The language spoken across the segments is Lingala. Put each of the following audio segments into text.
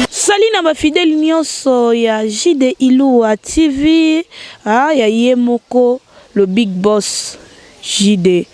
Sali na ba fidèle nionso ya JD Iloua TV ah, ya ye moko le big boss JD.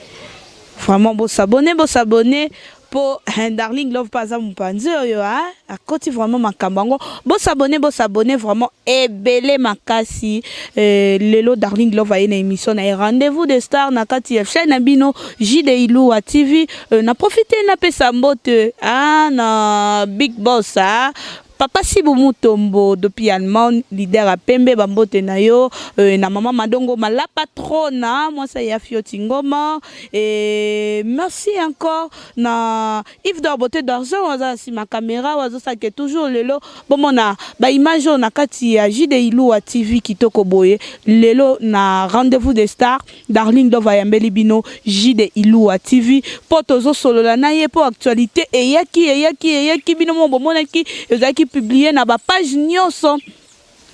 Vraiment bo s'abonner, bo s'abonner. po hein, darling love pa aza mopanzi oyo hein? akoti vraiment makambo yango bosabone bosabone vraiment ebele makasi euh, lelo darling love aye na émission na ye rendez-vous de star na kati ya chaîne na bino jide iluwa tv euh, na profite napesa mbote ah, na big boss ah, Papa Sibu Mutombo depuis Allemagne, leader à pembe bambote na yo euh, na maman Madongo la patrona mwasa ya Fioti Ngoma et merci encore na Yves Dorbote d'argent waza si ma caméra wazo ça que toujours lelo bomona ba image on a kati ya JDI Lua TV kitoko boye lelo na rendez-vous des stars Darling Dove ayambeli bino Jide Ilua TV po tozo solola na ye po actualité eyaki eyaki eyaki bino mo bomonaki ezalaki publier na ba page nyonso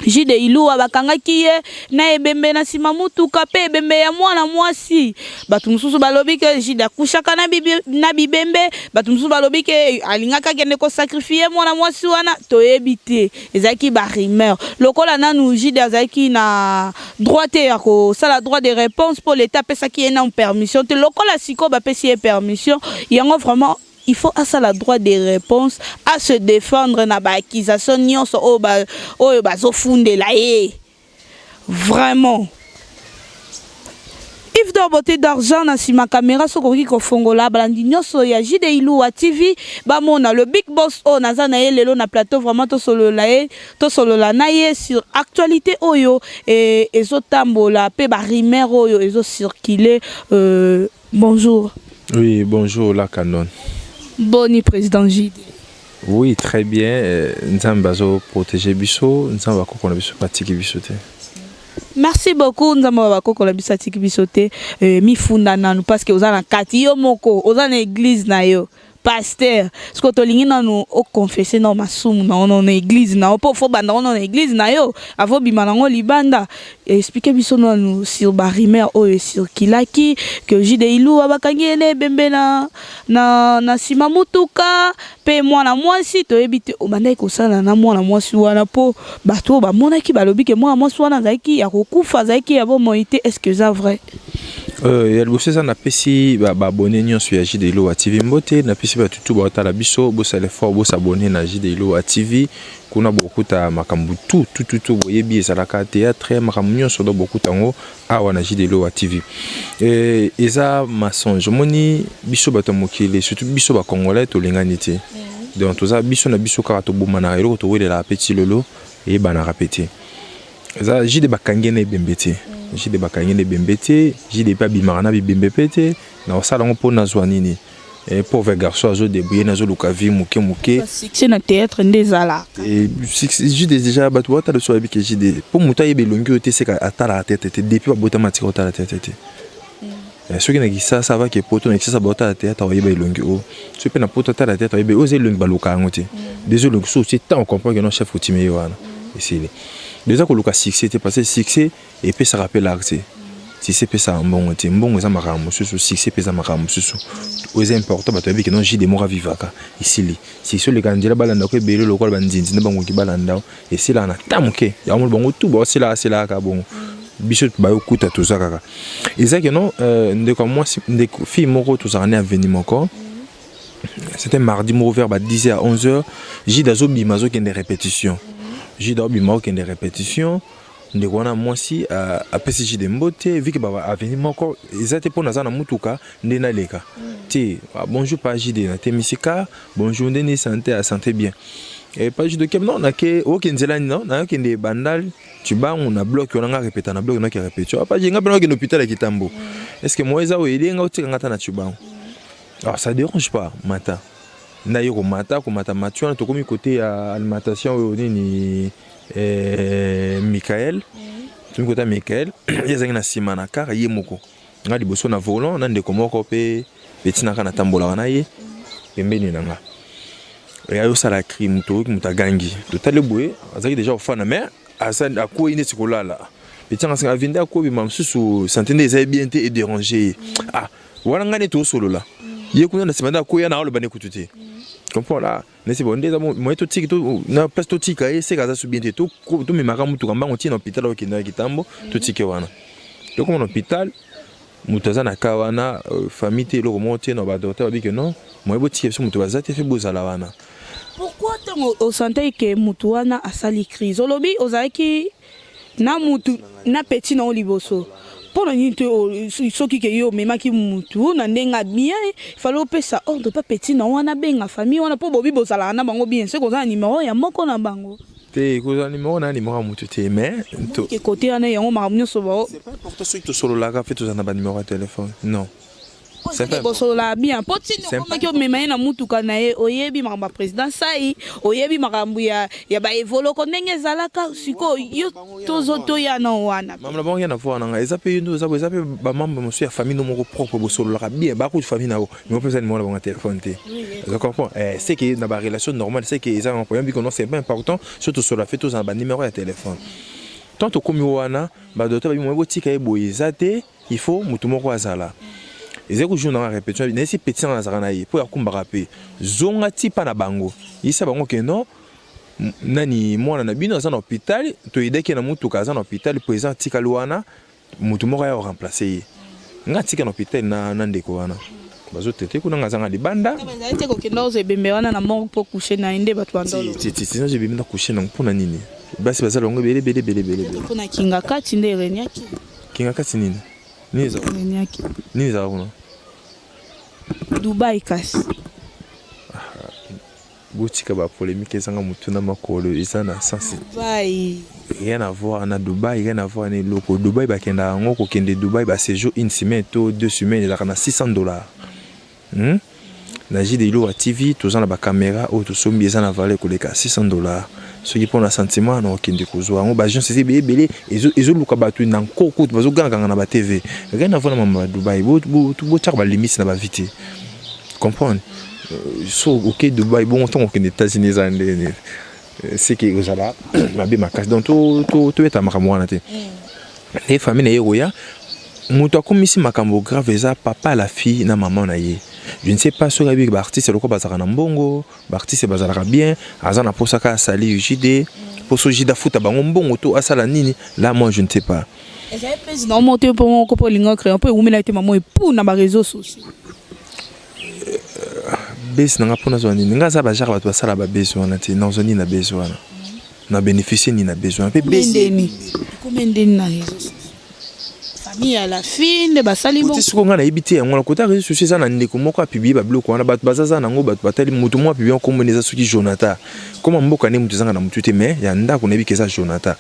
Jide Ilua bakangaki ye na ebembe na sima mutuka pe ebembe ya mwana mwasi bato mosusu balobi ke Jide akushaka na, bibi, na bibembe bato mosusu balobi ke alingaka kende kosakrifie mwana mwasi wana toyebi te ezalaki ba rumeur lokola nanu jide azalaki na droit te ya kosala droit de réponse mpo leta apesaki ye nanu permission te lokola sikoyo bapesi ye permission yango vraiment il faut asala droit de réponse à se défendre na ba accusation nyonso oyo bazofundela ye Vraiment. Yves Dor Beauté d'Argent na sima caméra soki okoki kofongola balandi nyonso ya JD Iluwa TV bamona le big boss oyo naza na ye lelo na plateau vraiment tosolola ye tosolola na ye sur actualité oyo eh, ezotambola mpe ba rumeur oyo ezo circuler euh, bonjour Oui, bonjour la canon. boni président JD Oui, très bien. Euh, Nzambe azo protéger biso, Nzambe akoko na biso patiki biso te. Merci beaucoup Nzambe bakoko na biso atiki biso te euh, mifunda nanu parce que oza na kati yo moko oza na église na yo pasteur siko tolingi nanu oconfesse nao masumu na ono na église na yo mpo fo banda ono na église na yo avobima nango libanda explike biso nanu sur barumeur oyo esirkilaki que jide iluwa bakangi ye na ebembe na na, na nsima motuka mpe mwana mwasi toyebi te obandaki kosala na mwana mwasi wana mpo bato oyo bamonaki balobi ke mwana mwasi wana azalaki ya kokufa azalaki ya bomoi te est ce que eza vrai Euh, ya liboso eza napesi baabone nyonso ya jide ilowa tv mbote napesi bato tu baotala biso bosala effort bosabone na jide ilowa tv kuna bokuta makambo tu tututu boyebi ezalaka théâtre makambo nyonso do bokuta yango awa na jideloa tv eh, eza mensonge omoni biso bato ya mokili surtout biso bacongolais tolingani te mm. donc toza biso na biso kaka tobomanaka eloko towelelaka mpe ti lelo eyebanaka mpe te eza jide bakangi ye na ebembe te mm. jide bakangi ye na ebembe te jide mpe abimaka na bibembe mpe te na kosala yango mpo nazwa nini Eh, pauvre garçon azo débrouiller nazo luka vie muke muke c'est na théâtre nde ezala eh, jide déjà bato batala so bayebi ke jide mpo moto ayeba elongi oyo te seka atalaka tete te depuis babotama tika otala tete te mm. eh, soki na kisasa avaki epoto na kisasa baotala théâtre oyeba elongi oyo soki mpe na poto atala théâtre oyeba oyo eza elongi baluka yango te mm. dezo elongi so otie ntango comprendre ke non chef otime ye wana mm. esili deja koluka succès te parce que succès epesaka mpe lare te succès epesaka mbongo te mbongo eza makambo mosusu succès mpe eza makambo mosusu oyo eza important bato bayebi keno jide moko avivaka esili succès oleka nzela balanda ko ebele lokola banzinzi nde bangoki balanda o esilaka na ta moke yango moni bango tu baosilaka asilaka kaka bongo biso bayokuta toza kaka eza keno euh, ndeko ya mwasi ndeko fille moko tozalaka ne aveni moko c'était mardi moko vers ba 10 heures 11 heures jide azobima azokende répétition jide azobima okende répétition ndeko wana mwasi apesi jide mbote vike ba aveni moko eza te mpo naza na motuka nde naleka te ah, bonjour pa jide natemisi ka bonjour nde ni sante ya sante bien e pa jide okem non nake oke nzela nini non nakende bandal cibangu na bloke wana nga repeta na bloke nake repetio apa ah, jide nga mpe nakende hôpital ya kitambo est ce que moye eza oyo elie nga otika nga ata na cibangu alors ah, ça dérange pas mata naye komata komata mati wana tokomi kote ya alimentation oyo nini eh, Michael tomi kota Michael ye azalaki na nsima na kar ye moko nga liboso na volant na ndeko moko mpe etinaka natambolaka na ye pembeni na nga eya yosala cri moto oyoki moto agangi totali boye azalaki deja kofana mais akwei neti kolala etianga senga avende akobima mosusu sante nde ezali bien te edérange ye ah wana ngai neti osolola ye kuna na nsima nde akwei yana aloba ne kutu te comprendre nesi bo nde eza moye totiki na place totika ye seka aza subien te tomemaka motuka mbango ntina hôpital okendaka kitambo totike wana tokoma na hôpital moto aza na ka wana euh, famille te eloko moko te na badokter babike non moye botika biso moto baza te fe bozala wana pourquoi ntango osantaki ke motu wana asali crise olobi ozalaki na mutu na petit na liboso mpo na nini soki ke yo omemaki mutu na ndenge ya bien fale opesa ordre oh, mpa petit na wana benga famille wana mpo bobi bozalaka na bango bien soki oza na nimero ya moko na bango te kozala nimero na nimero ya motu te mais kote wana yango makambo nyonso bao soki tosololaka mpe toza na banimero ya telefone non bosolola bien po tini okomaki omema ye na mutuka na ye oyebi makambo ya président sai oyebi makambo ya, ya baevoloko ndenge ezalaka sikoyo yo tozo toya na wana mambo na bango ya na voi nanga eza mpe yo nde oza eza mpe bamambo mosusu ya famille no moko propre bosololaka bien bakutu famille na yo moko mpe eza nimero na bango ya telefone te oza comprend eh, c'est que na barelation normale c'est que eza na problème bikono c'est pas important so tosolola mpe tozala banimero ya telefone tant tokomi wana badoto babi moye botika ye boye eza te il faut mutu moko azala ezali kojour nanga repetition nayesi petit nanga nazalaka na ye mpo yakumbaka mpe zonga ti mpa na bango yisa bango ke non nani mwana na bino aza na hôpital toyedaki ye na motuka aza na hôpital mpo eza atikali wana motu moko aya oremplace ye nga atika na hôpital na, na ndeko wana bazotete kuna nga azanga libanda te kokenda ozo ebembe wana na mort mpo kushe na ye nde bato bandolonazo ebembe na kushe nango mpo na nini basi baza longo ebele ebele ebele ebele mpo na kinga kati nde erenyaki Kingakati nini? Nini eza kuna? Niaki. Nini eza kuna? Dubai kasi. botika ba polemique ezanga motu na makolo eza na sensi Dubai. rien à voir na dubai rien à voir na eloko dubai bakendaka yango kokende dubai ba séjour une semaine to deux semaines ezalaka na 600 dollars Hmm? na jide ilowa tv toza na bakamera oyo tosombi eza na valeur koleka 600 dollars soki mpo na sentiment na okende kozwa yango baagence eza ebele ebele ezoluka bato na nko kutu bazogangaganga na batv rien avant na mama ya dubai botyaka balimite na bavi te comprendre euh, so oke dubai bongo ntango okende états-unis eza ndenge nini seke ekozala mabe makasi donc tobeta makambo wana te e famille na ye ekoya moto akomisi makambo grave eza papa la fille na mama na ye je ne sais pas soki ayebi baartiste lokola bazalaka na mbongo baartiste bazalaka bien aza na mposa kaka asali ugd mposo ugd afuta bango mbongo to asala nini la moi je ne sais pas ezali mpesi na omo te mpo moko mpo olinga créa mpo ewumela te mamo epu na bareseau sociaux base na nga mpo nazwa nini nga aza bajare bato basala babase wana te nazwa nini na base wana na bénéficie nini na base wana mpe siko ngai nayebi te yango wana kota réseau sociaux eza na ndeko moko apiblie babiloko wana bato baza za nango bato batali moto moko apiblie kombona eza soki jonathan koma mboka nde moto ezanga na motu te mais ya ndako nayebi ke eza jonathan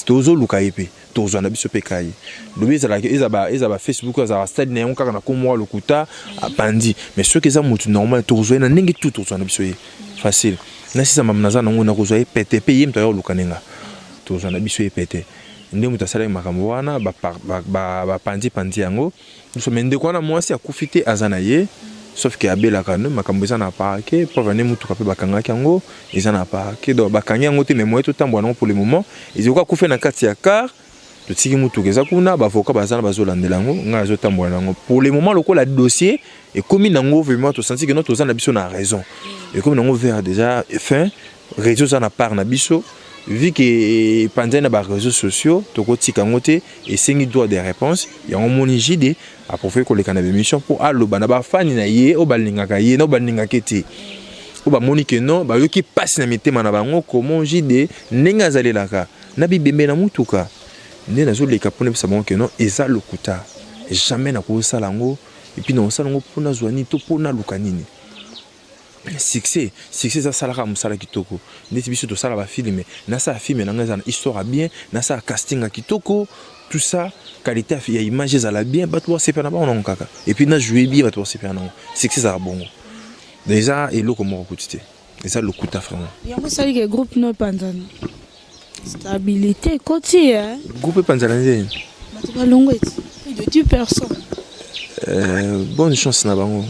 tozoluka ye mpe tozwa na biso mpe kaye lobi ezalaka eza ba facebook azalaka stade na yango kaka na komoa lokuta abandi mais soki eza motu normal tokozwa ye na ndenge tu tokozwa na biso ye facile nasisa mama naza nango nakozwa ye pete mpe ye moto aya koluka nde nga tozwa na biso ye pete nde moto asalaki makambo wana bapanzi panzi yango biso me ndeko wana mwasi akufi te aza na ye sauf ke abelaka no makambo eza na parke preuve ane motuka mpe bakangaki yango eza na parke donc bakangi yango te me moye totambola nango pour le moment ezoki akufe na kati ya car totiki motuka eza kuna bavoka baza na bazolandela yango ngai azotambola na yango pour le moment lokola dossier ekomi nango vraiment tosanti ke no toza na biso na raison ekomi nango vers déjà fin Réseau ça na part na biso vu que eh, panzani na ba réseaux sociaux tokotika yango te esengi droit de réponse yango moni jide aprofite koleka na bémission mpo aloba na bafani na ye oyo balingaka ye na oyo balingaka ye te oyo bamoni ke non bayoki mpasi na mitema na bango komo jide ndenge azalelaka na bibembe na motuka nde nazoleka mpo nayebisa bango ke non eza lokuta jamais nakosala yango epuis nakosala yango mpo nazwa nini to mpo naluka nini succès succès eza salaka mosala kitoko ndeti biso tosala bafilme nasala filme na ngai eza na histoire ya bien nasala casting ya kitoko tout ça qualité ya image ezala bien bato basepela na bango nango kaka epuis na joue bien bato basepela nango succès ezala bongo donc eza eloko moko kutu te eza lokuta vraiment yango esali ke groupe no epanzana Stabilité ekoti ye. Eh? Groupe epanzana nzeni. Bato balongo eti. De tu personne. Euh, bonne chance na bango.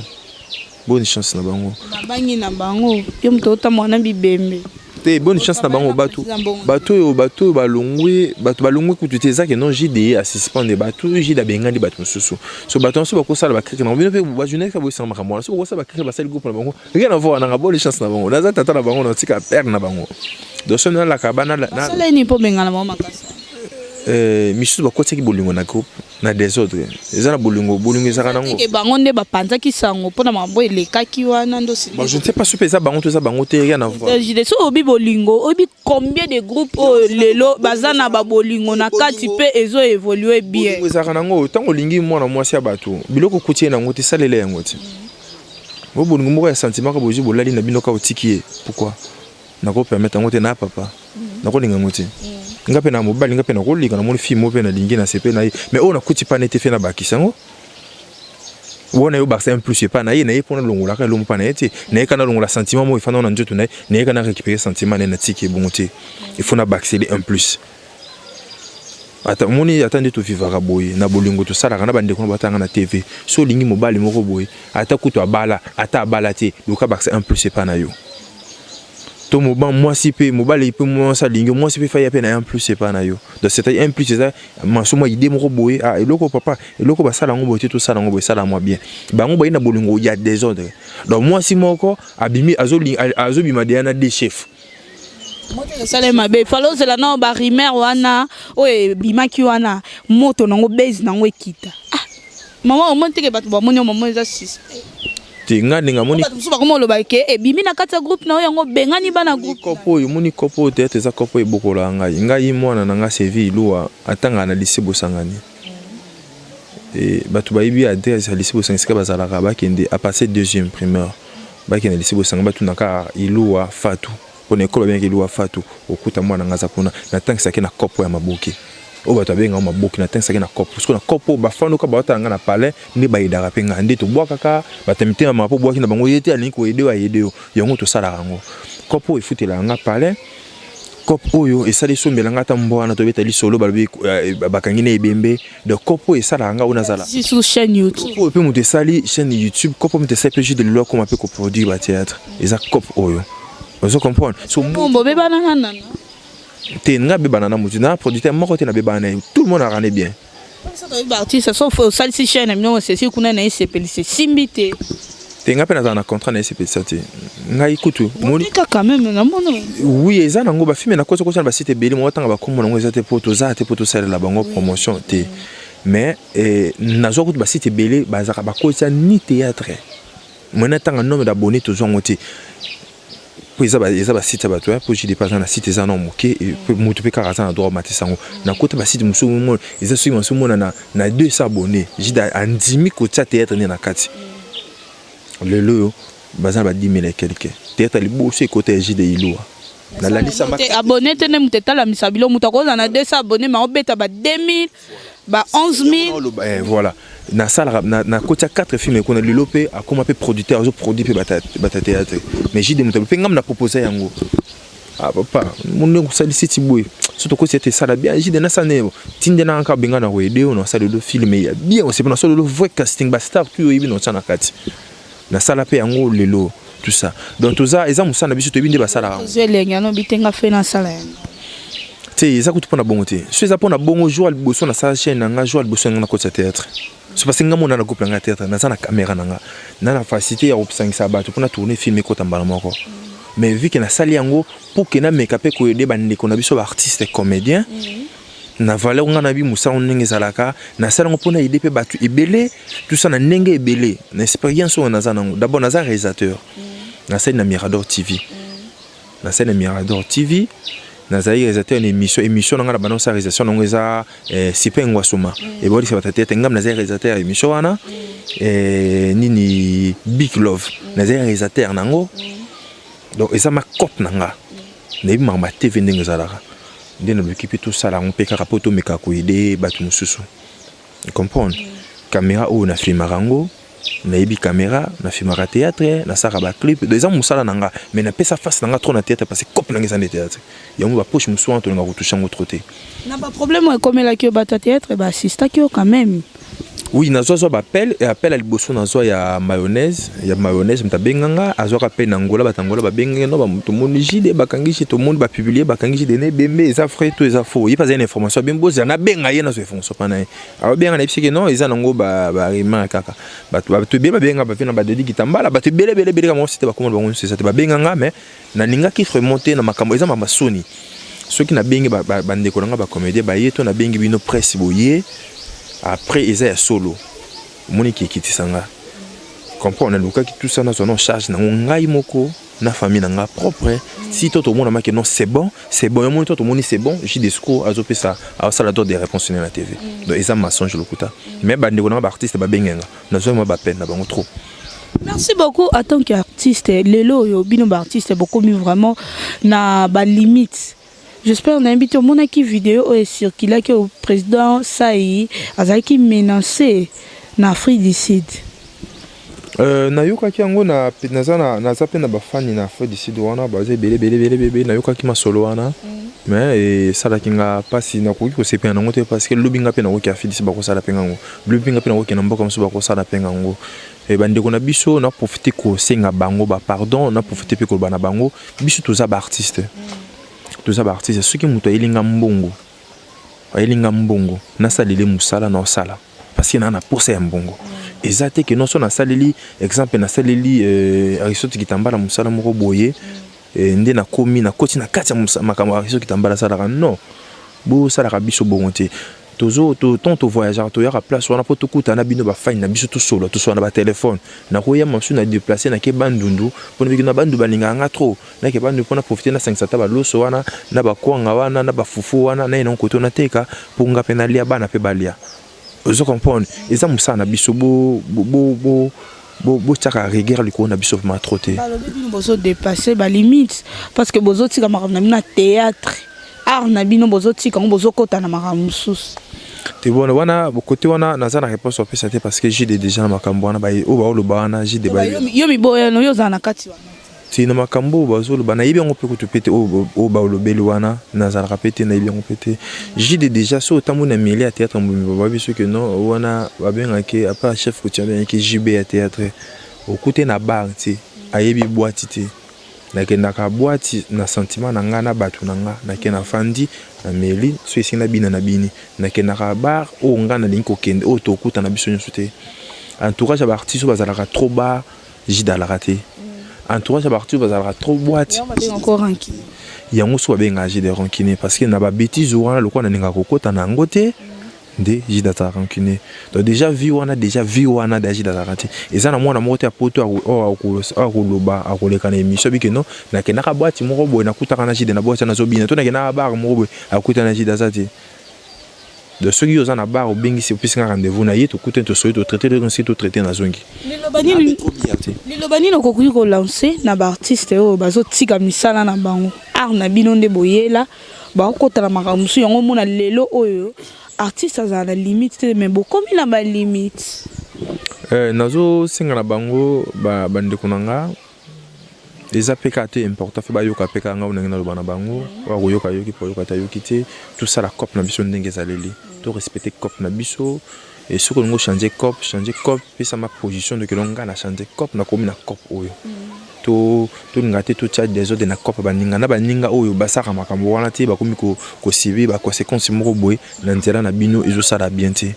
Bonne chance na bango. Babangi na bango. Yo moto otambola na bibembe. te bonne chance na bango bato bato oyo bato oyo balongwe bato balongwe kutu te ezaki non jde asuspende bato oyo jde abengani bato mosusu so bato nyonso bakosala bakrike na bango bino mpe bajournaliste boyesanga makambo wana so bakosala bakrike basali groupe na bango rien à voir nanga boli chance na bango naza tata na bango natika père na bango donc soki nalaka bana nasala nini mpo bengana bango makasi euh, misusu bakotaki bolingo na groupe na desordre eza na bolingo bolingo ezaka nango bango nde bapanzaki sango mpo na makambo elekaki wana ndosi je ne sais pas soki mpe eza bango to eza bango te rien à voir soki obi bolingo obi combien de groupe oyo lelo baza na babolingo na kati mpe ezo evolue bien ezalaka nango ntango olingi mwana mwasi ya bato biloko okuti ye nango te salela yango ti bo bolingo moko ya sentiment ka bozwi bolali na bino ka otiki ye pourkui nakopermettre yango te na papa mm. nakolinga yango te mm. nga mpe na mobali nga mpe nakolika namoni fille moko mpe nalingi na sepe na ye mais oyo nakuti pane te fe nabakisa yango wana yo bakisa un plus epai na ye na ye mpo nalongolaka elongo mpa na ye te nayeka nalongola sentiment moko efanda na nzoto na ye nayeka na récupérer sentiment na ye natiki ebongo te il faut nabakiseli un plus ata omoni ata nde tovivaka boye na bolingo tosalaka na bandeko na batanga na tv so olingi mobali moko boye ata kutu abala ata abala te luka bakisa un plus epai na yo to mwasi mpe mobali mpe mwasi alingi mwasi mpe faya mpe na ye un plus epai na yo donc c'est-à-dire un plus eza maso mwa idée moko boye ah, eloko papa eloko basala yango boye te tosala yango boye sala mwa bien bango baye na bolingo ya desordre donc mwasi moko abimi azobima deya na de chef esala mabe fala ozela nao barimer wana oyo ebimaki wana moto nango base nango ekita ah. Maman omoni teke bato bamoni yo maman eza suspect. Te nga ndenge amoni. Bato mosusu bakoma oloba ke ebimi na kati ya groupe na yo yango bengani bana groupe. Kopo oyo omoni kopo oyo teyate eza kopo ebokola ngai. Ngai mwana na nga Sevi Iluwa atanga na lycée Bosangani. E, bato bayebi adresse ya lycée Bosangani esika bazalaka bakende à partir deuxième primaire bakende lycée Bosangani batunaka Iluwa Fatou. Pona ekolo babengaki Luwa Fatu, okuta mwana nga aza kuna, natangisaki na kopo ya maboke oyo bato babenga yango maboke, natangisaki na kopo sikoyo na kopo bafandoka baotala nga na palais nde bayedaka mpe nga nde tobwakaka bato ya mitema mapo bwaki na bango ye te alingi koyede oyo ayede yo yango tosalaka yango kopo efutelaka nga palais kopo oyo esali esombela nga ata mbwa wana tobeta lisolo balobi eh, bakangi na ebembe donc kopo oyo esalaka ngai oyo nazala sur chaîne youtube oyo mpe moto esali chaîne youtube kopo moto esali mpe jus de lelo akoma mpe koproduire batheatre eza kopo oyo ozo comprendre sokombo obebana na nana te ngai abebana na motu na producteur moko te nabebana na ye tout le monde arane bien artiste sauf osalisi chaîne na bino osesi kuna na ye sepelisi esimbi te te ngai mpe nazala na contrat na esepelisa te ngai kutu kaka meme na mono oui eza nango bafilme nakosi kosa na basite ebele moko ntanga bakombo nango eza te mpo toza te mpo tosalela bango promotion te mais eh, nazwa kutu basite ebele bazalaka bakosa ni théâtre mwana ntanga nome dabone tozwa yango te mpo eza eza ba site ya bato ya mpo jide mpe aza na site eza na moke mpe moto mpe kaka aza na droit amatisa yango na kota ba site mosusu omona eza soki mosusu omona na na 200 abonné jide andimi kotia théâtre nde na kati lelo oyo baza na ba 10 000 quelque théâtre liboso ekota ya jide ilua nalalisa abonné te nde moto etalamisa bilo moto akozala na 200 abonné ma obeta ba 2000 ba 11000 eh, voilà nasalaka nakoti ya 4 filme kuna lelo mpe akoma mpe producteur azo produit mpe batateya te mais jide motalu mpe ngai naproposa yango ah papa monde kosalisi ti boye so tokosi ete esala bien jide nasana yebo tinde na kaka benga na koyede oyo nasalelo filme ya bien osepena solelo vrai casting bastar tu oyebi na otya na kati na sala pe yango lelo tout ça donc toza eza musala na biso toyebi nde basalaka yango zwe lenge ano bitenga fe na sala yango te eza kutu mpo na bongo te so eza mpo na bongo jour ya liboso nasala chaîne na nga jour ya liboso yanga nakotisa théâtre so parce nga mona na groupe na nga théâtre naza na caméra na nga na na facilité ya kosangisa bato mpo na tourner film ekota mbala moko mais vu ke nasali yango mpo ke nameka mpe koyede bandeko na biso baartiste comédien mm -hmm. na valeur nga na bi musango ndenge ezalaka na sala ngo pona idée pe batu ebele tout ça na ndenge ebele na expérience on naza nango d'abord naza réalisateur mm. na sala na Mirador TV mm. na sala na Mirador TV nazali réalisateur na émission émission na nga na bana sa réalisation nango eza eh, sipe ngwasuma mm. ebolisa batata ete ngam nazali réalisateur ya émission wana eh, nini big love nazali réalisateur nango donc eza ma cope na nga nayebi makambo ya tv ndenge ezalaka nde naloki mpe tosala yango mpe kaka mpo tomeka koyede bato mosusu comprendre kamera oyo nafilmaka yango nayebi kamera nafilmaka théâtre nasalaka baclip eza mosala na nga mais napesa face na nga trop na théâtre parce que cope nanga eza nde théâtre yango bapoche mosusu wana tolinga kotouche yango trop te na baproblème oyo ekomelaki yo bato ya théâtre baassistaki yo quand même Oui, nazwa zwa ba appel et appel à liboso nazwa ya mayonnaise, ya mayonnaise mutu abenganga, azwaka mpe na Angola, bato Angola babengenge no, tomoni JD bakangi JD, tomoni ba publier bakangi JD na ebembe, eza vrai to eza faux, ye mpe azali na information, abengi bozela nabenga ye nazwa information mpa na ye, abenga na yebisaki non eza nango ba ba rumeur kaka, bato bato ebele babenga bape na ba Dodi Kitambala, bato ebele ebele ebele kaka mwa site bakoma na bango nyonso eza te, babenganga mais Nalingaki vraiment te na makambo eza mama soni soki nabengi bandeko na ngai bacomédien baye to nabengi bino presse boye après eza ya solo omoni kiekitisa ngai comprendre nalukaki tout ça nazwa na charge nango ngai moko na famille na ngai propre si to tomonamaki non c'est bon c'est bon yamoni to tomoni c'est bon ji discours azopesa asala to des réponses na tv donc eza mensonge lokuta mais bandeko na ngai baartiste babenge nga nazwaki mwa bapene na bango trop Merci beaucoup en tant qu'artiste lelo oyo bino ba artiste bokomi vraiment na ba limite j'espère nayebi te omonaki video oyo ecirculaki oyo président sai azalaki menacé na afrique du sud Euh, nayokaki yango na, naza, na, naza mpe na bafani na afrique du sud wana baza ebele ebele ebele ebele nayokaki masolo wana mm. mais esalaki nga mpasi nakoki kosepela nango te parce que lobi nga mpe nakoki afrique du sud bakosala mpe ngango lobi nga mpe nakokende na mboka mosusu bakosala mpe ngango eh, bandeko na biso na profite kosenga bango bapardon na profite mpe koloba na bango biso toza baartiste toza baartiste soki moto ayeli nga mbongo ayeli nga mbongo nasalele mosala na osala parce que naa na posa ya mbongo eza te ke noso nasaleli exemple nasaleli euh, aristote kitambala mosala moko boye eh, nde nakomi nakoti na kati ya makambo ya biso kitambala asalaka non bosalaka biso bongo te tozo to tant to voyageur to yaka place wana po tokuta na bino ba fine na biso tosolo tosolo na ba téléphone na koya masu na déplacer na ke bandundu pona bikina bandu balinga nga trop na ke bandu pona profiter na sangisa ta ba loso wana na ba kwanga wana na ba fufu wana na ina koto na teka po nga pe na lia bana pe balia ozo comprendre eza mosala na biso bo bo bo botyaka rigueur likolo na biso vraimen trop te balobi bino bozodepasse balimite parce que bozotika makambo na bino na théâtre art na bino bozotika yango bozokota na makambo mosusu te bona wana bokote wana naza na réponse opesa te parce que jide déjà na makambo wana oyo baoloba wana jide yo miboyano yo ozala na kati wana Te na makambo oyo bazoloba nayebi yango mpe kutu mpe te oyo baolobeli wana nazalaka mpe te nayebi yango mpe te jide deja so otamboli na miele ya théâtre mbumi bababi soki no wana babengaki apa chef kutu abengaki jb ya théâtre okute na bar te ayebi bwati te nakendaka bwati na sentiment na ngai na bato na ngai nake na fandi na meli so esili na bina na bini nakendaka bar oyo ngai nalingi kokende oyo tokutana biso nyonso te entourage ya baartiste oyo bazalaka trop bar jida alaka te entourage ya baartiste bazalaka trop boite yango so babengaka jida rancune parce que na babétise wana lokola nalingaka kokota na yango te nde jida azalaka rancune donc déjà vie wana déjà vie wana da jida azalaka te eza na mwana moko te ya poto oyo akoloba akoleka na émission bike no nakendaka boite moko boye nakutaka na jida na boite nazobina to nakendaka bar moko boye akuta na jida aza te donc soki yo oza na bar obengisi opesi nga rendez-vous na ye tokutani tosoli totraite lelo nsi totraite nazongi liloba nini okoki kolanse na baartiste oyo bazotika misala na bango art na bino nde boyela bakokota na makambo mosusu yango omona lelo oyo artiste azala na limite te mais bokomi na balimite eh, nazosenga na bango bandeko na nga eza mpe kaka te important mpe bayoka mpe kaka ngai ndenge naloba na bango oyo koyoka yoki mpo oyoka te ayoki te tosala cope na biso ndenge ezaleli to respecte cope na biso e soki olingi ochange cope change cope pesama position doki elongo ngai na change cope nakomi na cope oyo mm. tolinga te totya desordre na cope baninga na baninga oyo basalaka makambo wana te bakomi kosibi baconsequence moko boye na nzela na bino ezosala bien te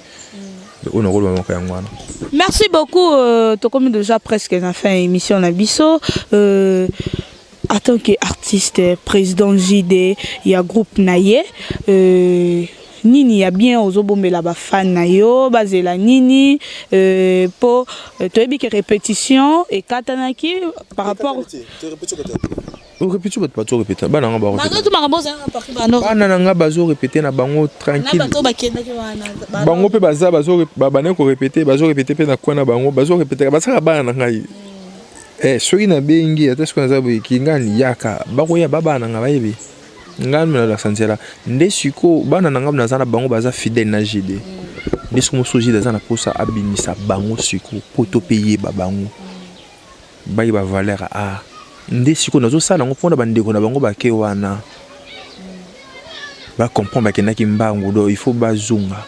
oyo nakoloba moko yango wana merci beaucoup euh, tokomi déjà presque na fin ya émission na biso euh, en tant que artiste président jd ya groupe na ye euh, nini ya bien ozobombela bafane na yo bazela nini euh, mpo euh, toyebi ke répétition ekatanaki par rapport orepeti bato bazo repeta bana nga bana na nga bazo repete na bango tranquille bango mpe baza babandaki korepete bazo repete mpe na koi na bango bazo repetaka basaka bana na ngai hmm. eh, soki nabengi ata soki naza boyeki ngai niyaka bakoya babana na nga bayebi ngai nalakisa nzela nde sikoyo bana na ngai naza na bango baza fidèle na jede hmm. nde soki mosusu jede aza na mposa abimisa bango sikoyo mpo to mpe yeba bango Baye ba valeur a ah. nde sikoyo nazosala yango mpo na bandeko na bango bake wana bacomprendre bakendaki mbangu do il faut bazonga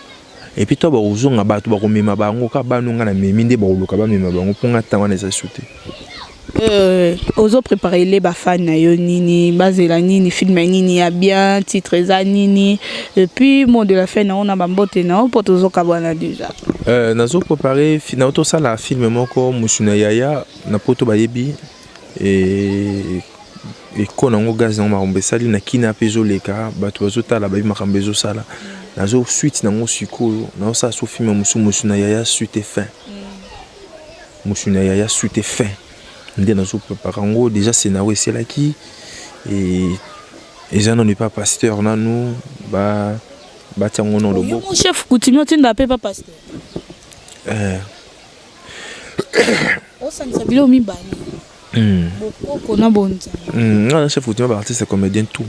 epuis to bakozonga bato bakomema bango kaka bano ngai namemi nde bakoluka bamema bango mpo ngai ntango wana eza su te Euh, ozo prépare le bafani na yo nini bazela nini filme nini ya bien titre eza nini epuis mot de la fin na yo na bambote na yo mpo tozokabwana déjà Euh, nazo préparer na tosala film moko musu na yaya na poto bayebi e eko nango gaz nango makambo esali na kina mpe ezoleka bato bazotala bayebi makambo ezosala nazo suite nango sikoyo naosala so filme mosusu mosu na yaya suite et fin mosu na yaya suite et fin nde nazo prépare yango déjà scénario eselaki eza nano epa pasteur nanu ba Batia ngo no loboko. Mon chef coutumier tinda pe papa pasteur. Eh. Osanisa bilo mibale. Mm. Bokoko na bonza. Mm. Non, chef coutumier ba artiste comédien tout.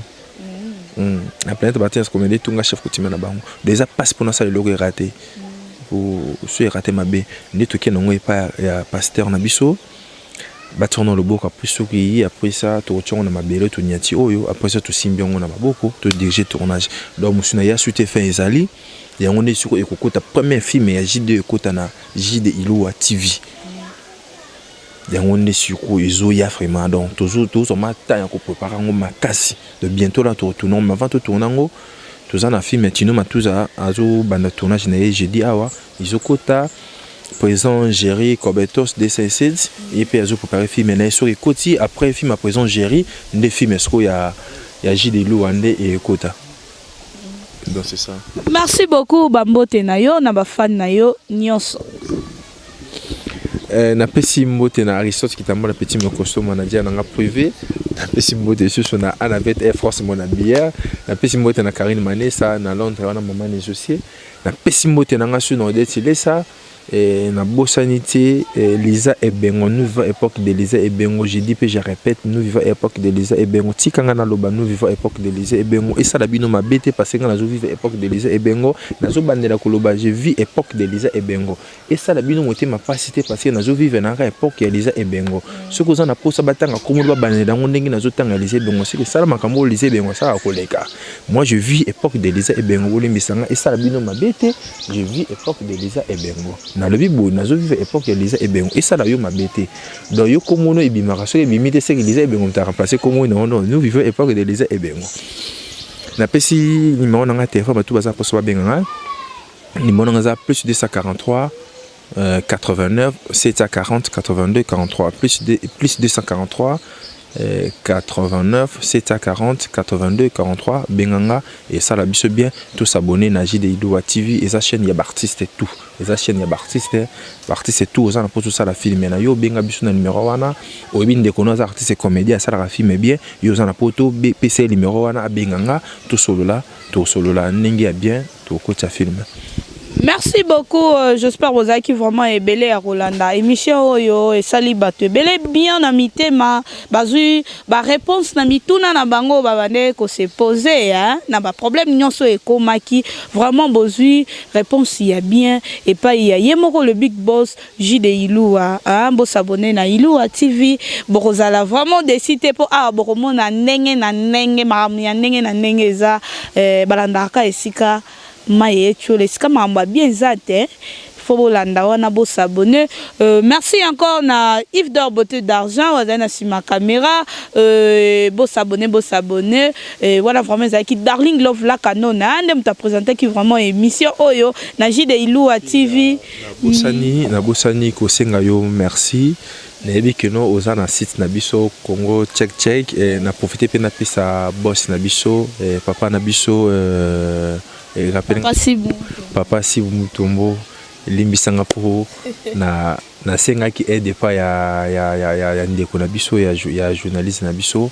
Mm. Mm. La planète ba artiste comédien tout nga chef coutumier na bango. Déjà passe pour na ça le logo est raté. Mm. Pour ce raté mabe. Ndeto ke nango epa ya pasteur na biso. batia yango na loboko apres soki eyi apres sa tokotia yango na mabele tonyati oyo apres sa tosimbi yango na maboko todirige tournage donc mosu na yasu te fin ezali yango nde siko ekokota première film ya jide ekota na jide ilowa tv yango nde siko ezoya vraiment donc tozwa ma temps ya koprepare yango makasi de bientôt la totourna mais avant totourna yango toza na film ya tino matuza azobanda tournage na ye jeudi awa ezokota présent Jerry Cobetos DCSED ye mpe azo préparer film na ye soki ekoti après film ya présent Jerry nde film sikoyo ya ya JD Lua nde ekota donc c'est ça merci beaucoup bambote na yo na bafani na yo nyonso Euh, napesi mbote na aristote kitamba na petit mokoso manager na nga privé napesi mbote lisusu na anabet air force mona bière napesi mbote na karine manesa na londres wana mama nesocie Napesi mbote na nga suna Odette Lesa et na bosani te eh, Lisa Ebengo nous vivons époque de Lisa Ebengo je dis pe je répète nous vivons époque de Lisa Ebengo tika nga naloba nous vivons époque de Lisa Ebengo esala bino mabe te parce que nga nazo vivre époque de Lisa Ebengo nazo bandela koloba je vis époque de Lisa Ebengo esala bino motema mpasi te parce que nazo vivre na kaka epoque ya liza ebengo soki oza na mposa batanga nkombo babanela yango ndenge nazotanga liza ebengo soki esala makambo oyo liza ebengo asalaka koleka moi je vis epoque de liza ebengo bolimbisa nga esala bino mabe te je vis epoque de liza ebengo nalobi boye nazo vivre epoque ya liza ebengo esala yo mabe te donc yo komono ebimaka soki ebimi te seke liza ebengo mtaka place komo non non nous vivons epoque de liza ebengo napesi nimero na nga telefone bato baza mposa babenga ngai numéro nanga eza plus 243 euh, 89 740 82 43 plus, de, plus 243 euh, 89 740 82 43 benganga esala biso bien tous s'abonner na JD Idoua TV eza chaîne ya b'artiste tout eza chaîne ya b'artiste b'artiste tout oza na poso sala film na yo benga biso na numéro wana oyebi ndeko no aza artiste comédien asalaka film bien yo oza na poto pesa ye numéro wana abenganga tosolola tosolola ndenge ya bien tokotisa film merci beaucoup euh, j'espère bozalaki vraiment ebele ya kolanda émission oyo esali bato ebele bien na mitema bazwi baréponse na mituna na bango oyo babandaki kose pose na baproblème nyonso oyo ekomaki vraiment bozwi réponse ya bien epai ya ye moko le big boss Jude Iluwa ah bo s'abonner na Iluwa TV bokozala vraiment déçu te po awa bokomona ndenge na ndenge makambo ya ndenge na ndenge eza eh, balandaka ka esika maye etiola esika makambo ya bien eza te faut bolanda wana bo s'abonner euh, merci encore na Yves d'or beauté d'argent wazali na sima caméra euh, bo s'abonner bo s'abonner euh, wana vraiment ezalaki darling love la canona nde moto apresentaki vraiment émission oyo na jide iloua tv Nabosani, nabosani kosenga yo merci. Nayebi que no oza na site na biso Congo Check Check eh, na profite mpe napesa boss na biso eh, papa na biso eh, eh, rappel- Papa Sibu. papa Sibu Mutombo limbisanga mpo na nasengaki aide epai ya, ya, ya, ya, ya ndeko na biso ya, jou- ya journaliste na biso